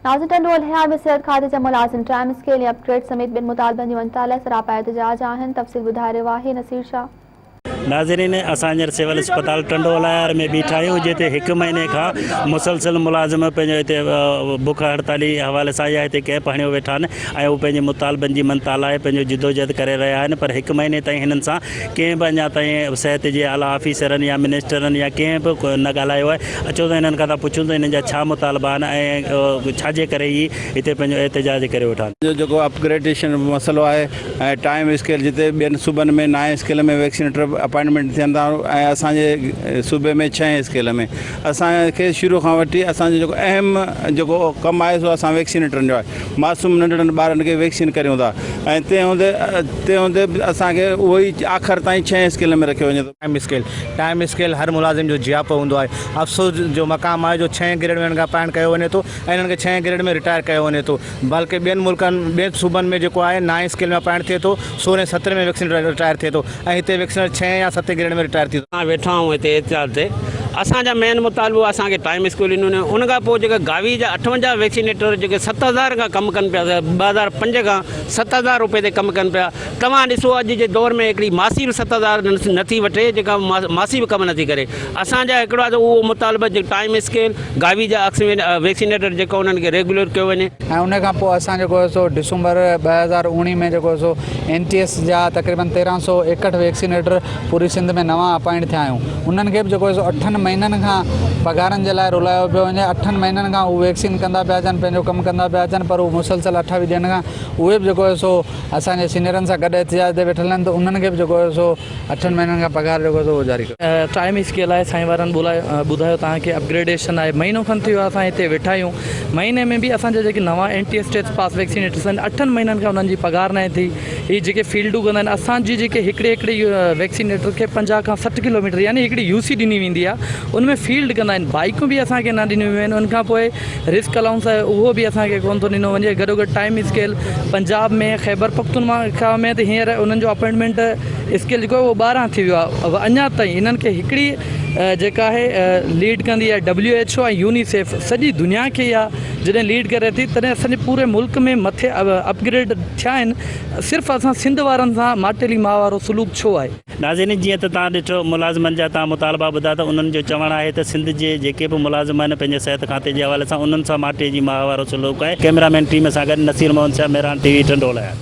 ناظر ٽنڊو الهيار ۾ صحت کاتي جا ملازم ٽائيم اسڪيل ۽ اپ گريڊ سميت ٻين مطالبن جي مڃتا لاء سراپا احتجاج آهن تفصيل ٻڌائي رهيو آهي نصير شاهه. ناظرين اسان هينئر سول اسپتال ٽنڊو الهيار ۾ بيٺا آهيون جتي هڪ مهيني کان مسلسل ملازم پنهنجو هتي بک هڙتالي حوالي سان يا هتي ڪيمپ هڻيو ويٺا آهن ۽ هو پنهنجي مطالبن جي مڃتا لاء پنهنجو جدوجهد ڪري رهيا آهن پر هڪ مهيني تائين هنن سان ڪنهن به اڃا تائين صحت جي اعليٰ آفيسرن يا منسٽرن يا ڪنهن به نه ڳالهايو آهي، اچو ته هنن کان ٿا پڇون ته هنن جا ڇا مطالبا آهن ۽ ڇا جي ڪري هي هتي پنهنجو احتجاج ڪري ويٺا آهن. جو جيڪو اپ گريڊيشن جو مسئلو آهي ۽ ٽائيم اسڪيل جتي ٻين صوبن ۾ نائين اسڪيل ۾ ويڪسينيٽر اپائنٽمينٽ ٿين ٿا ۽ اسان جي صوبي ۾ ڇهين اسڪيل ۾. اسان کي شروع کان وٺي اسان جو جيڪو اهم جيڪو ڪم آهي سو اسان ويڪسينيٽرن جو آهي معصوم ننڍڙن ٻارن کي ويڪسين ڪريون ٿا ۽ تنهن هوندي تنهن هوندي به اسان کي اهو ئي آخر تائين ڇهين اسڪيل ۾ رکيو وڃي ٿو ٽائيم اسڪيل، ٽائيم اسڪيل هر ملازم جو جياپو هوندو آهي، افسوس جو مقام آهي جو ڇهين گريڊ ۾ هنن کان اپائنٽ ڪيو وڃي ٿو ۽ هنن کي ڇهين گريڊ ۾ رٽائر ڪيو وڃي ٿو. بلڪه ٻين ملڪن ٻين صوبن ۾ جيڪو آهي نائين اسڪيل ۾ اپائنٽ ٿئي ٿو سورهين ۽ سترهين ۾ ويڪسين رٽائر ٿئي ٿو ۽ هتي ويڪسينر ڇهين يا ستين گريڊ ۾ رٽائر ٿي ٿو. اسان ويٺا آهيون هتي احتجاج تي اسان جا مين مطالبو اسان کي ٽائيم اسڪيل ڏنو وڃي ان کان پوء جيڪا گاوي جا اٺونجاهه ويڪسينيٽر جيڪي ست هزار کان ڪم ڪن پيا ٻه هزار پنج کان ست هزار روپي تي ڪم ڪن پيا توهان ڏسو اڄ جي دور ۾ هڪڙي ماسي به ست هزار نه ٿي وٺي جيڪا ماسي به ڪم نه ٿي ڪري اسان جا هڪڙا ته اهو مطالبه جو ٽائيم اسڪيل، گاوي جا اڪس ويڪسينيٽر جيڪو انهن کي ريگيولر ڪيو وڃي. ۽ ان کان پوء اسان جيڪو هي سو ڊسمبر ٻه هزار اوڻيهه ۾ جيڪو هي سو اين ٽي ايس جا تقريبن تيرهن سؤ ايڪهٺ ويڪسينيٽر پوري سنڌ ۾ نوان اپائنٽ ٿيا آهيون انهن کي به جيڪو هي سو اٺن مهينن کان پگهارن جي لاء رلايو پيو وڃي اٺن مهينن کان هو ويڪسين ڪندا پيا اچن پنهنجو ڪم ڪندا پيا اچن پر هو مسلسل اٺ ويهه ڏينهن کان اهي به جيڪو هي سو اسان جي سينيئرن سان گڏ احتجاج تي ويٺل آهن ته انهن کي به جيڪو هي سو اٺن مهينن کان پگهار جيڪو اٿو اهو جاري ڪريو. ٽائيم اس ڪي لاء سائين وارن ٻڌايو توهان کي اپگريڊيشن آهي مهينو کن ٿي ويو آهي اسان هتي ويٺا آهيون مهيني ۾ به اسان جا جيڪي نوان N T S test pass vaccinators آهن اٺن مهينن کان انهن جي پگهار ناهي ٿي هي جيڪي فيلڊون ڪندا آهن اسان جي جيڪي هڪڙي هڪڙي ويڪسينيٽر کي پنجاهه کان سٺ ڪلوميٽر يعني هڪڙي يو سي ڏني ويندي آهي ان ۾ فيلڊ ڪندا آهن بائيڪون به اسان کي نه ڏنيون ويون آهن ان کان پوء رسڪ الائونس آهي اهو به اسان کي ڪونه ٿو ڏنو وڃي گڏوگڏ ٽائيم اسڪيل پنجاب ۾ خيبرپختونخوا ۾ ته هينئر انهن جو اپائنٽمينٽ اسڪيل جيڪو اهو ٻارهن ٿي ويو آهي اڃا تائين هنن کي هڪڙي جيڪا آهي ليڊ ڪندي آهي ڊبليو ايڇ او ۽ يونيسيف سڄي دنيا کي اها جڏهن ليڊ ڪري ٿي تڏهن اسان پوري ملڪ ۾ مٿي اپگريڊ ٿيا آهن صرف اسان سنڌ وارن سان ماٽيلي ماء وارو سلوڪ ڇو آهي ناظرين جيئن ته توهان ڏٺو ملازمن جا توهان مطالبا ٻڌا ته انهن جو چوڻ آهي ته سنڌ جي جيڪي به ملازم آهن پنهنجي صحت کاتي جي حوالي سان انهن سان ماٺيء جي ماهوارو سلوڪ آهي ڪئميرا مين ٽيم سان گڏ نصير محمد شاهه مهراڻ ٽي وي ٽنڊو الهيار.